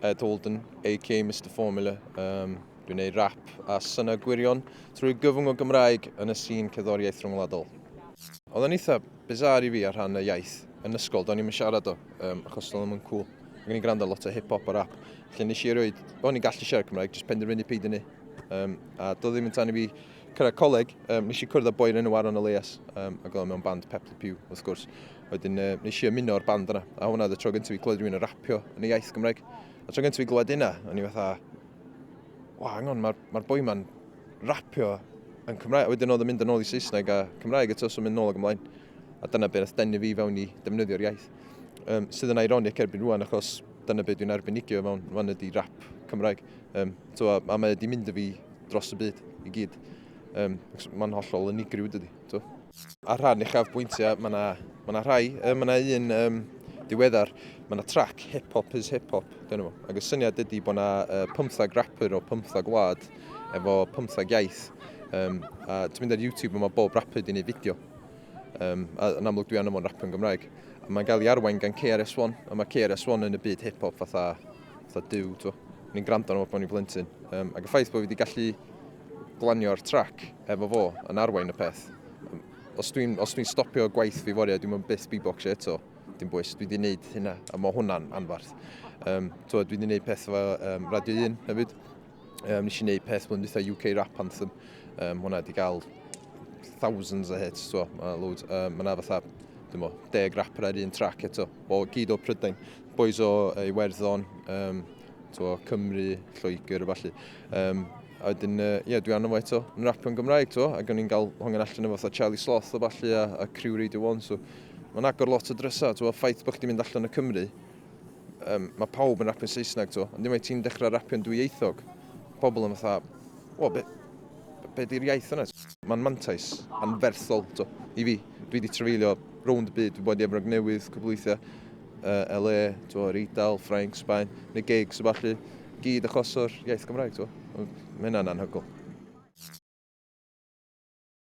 Ed Holden, AK Mister Formula. Um, dwi'n gwneud rap a syna gwirion trwy gyfwng o Gymraeg yn y sîn cerddoriaeth rhyngwladol. Oedd yn eitha bizarre i fi ar rhan y iaith yn ysgol, do'n i'm yn siarad o, um, achos do'n i'm yn cool. Ac o'n i'n gwrando lot o hip-hop a rap. Felly nes i erioed, o'n i'n gallu siarad Cymraeg, jyst penderfynu peidio ni. Um, a doedd ddim yn tan i fi Cyrraedd coleg, um, nes i cwrdd â boi'r enw Aaron Elias, um, ac oedd mewn band Pep the Pew, wrth gwrs. Wedyn uh, nes i ymuno o'r band yna, a hwnna oedd y tro gyntaf i glywed rhywun yn rapio yn y iaith Gymraeg. A tro gyntaf i glywed yna, o'n i fatha, wa, hang on, mae'r ma boi ma'n rapio yn Cymraeg. Wedyn oedd yn mynd yn ôl i Saesneg a Cymraeg eto, so mynd nôl ag ymlaen. A dyna beth oedd denu fi fewn i defnyddio'r iaith. Um, sydd yn ironic erbyn rwan, achos dyna beth dwi'n arbennigio mewn, fan ydy rap Cymraeg. Um, twa, a mae wedi mynd y fi dros y byd i gyd. Um, Mae'n hollol unigryw dydy. Twa. Ar rhan uchaf bwyntiau, mae yna ma, na, rhai, um, mae yna un um, diweddar, mae yna trac Hip Hop is Hip Hop, dyn nhw. Ac y syniad ydy bod yna uh, pymthag rapper o pymthag wlad efo pymthag iaith. Um, a ti'n mynd ar YouTube yma bob rapper di wneud fideo. Um, a yn amlwg dwi anna fo'n rapper yn Gymraeg. A mae'n gael ei arwain gan KRS-One, a mae KRS-One yn y byd hip-hop fatha fatha Duw, ti'n gwbod. O'n i'n gwrando arno fo pan o'n i'n blentyn. Um, ac y ffaith bod fi wedi gallu glanio'r trac efo fo yn arwain y peth. Um, os dwi'n dwi stopio gwaith fi foriau, dwi'n mynd byth beatboxio eto. Dim bwys, dwi wedi gwneud hynna, a mae hwnna'n anfarth. Um, dwi wedi gwneud peth efo um, Radio 1 hefyd, Um, nes i wneud peth blwyddyn dwytha UK Rap Anthem. Um, hwna wedi cael thousands o hits, so, uh, loads. Um, Mae'n fatha, dymo, deg rapper ar un track eto. Bo, gyd o Prydain. Boys o uh, Iwerddon, um, to, Cymru, Lloegr, falle. Um, a wedyn, uh, yeah, dwi anna fo eto yn rapio'n Gymraeg, to, ac o'n i'n cael hongen allan efo fatha Charlie Sloth o falle a, a Crew Radio 1, so mae'n agor lot o drysau, to, ffaith bod chdi'n mynd allan o Cymru, um, mae pawb yn rapio'n Saesneg to, ond unwaith ti'n dechrau rapio'n dwyieithog, pobl yn fatha, o, be, be di'r iaith yna? Mae'n mantais anferthol to, i fi. Dwi wedi trefeilio rownd y byd, dwi'n bod i Efrog Newydd, cwbl weithiau, uh, LA, to, yr Eidal, Ffrainc, Sbaen, neu gigs o falle, gyd achos o'r iaith Gymraeg, to. Mae hynna'n anhygol.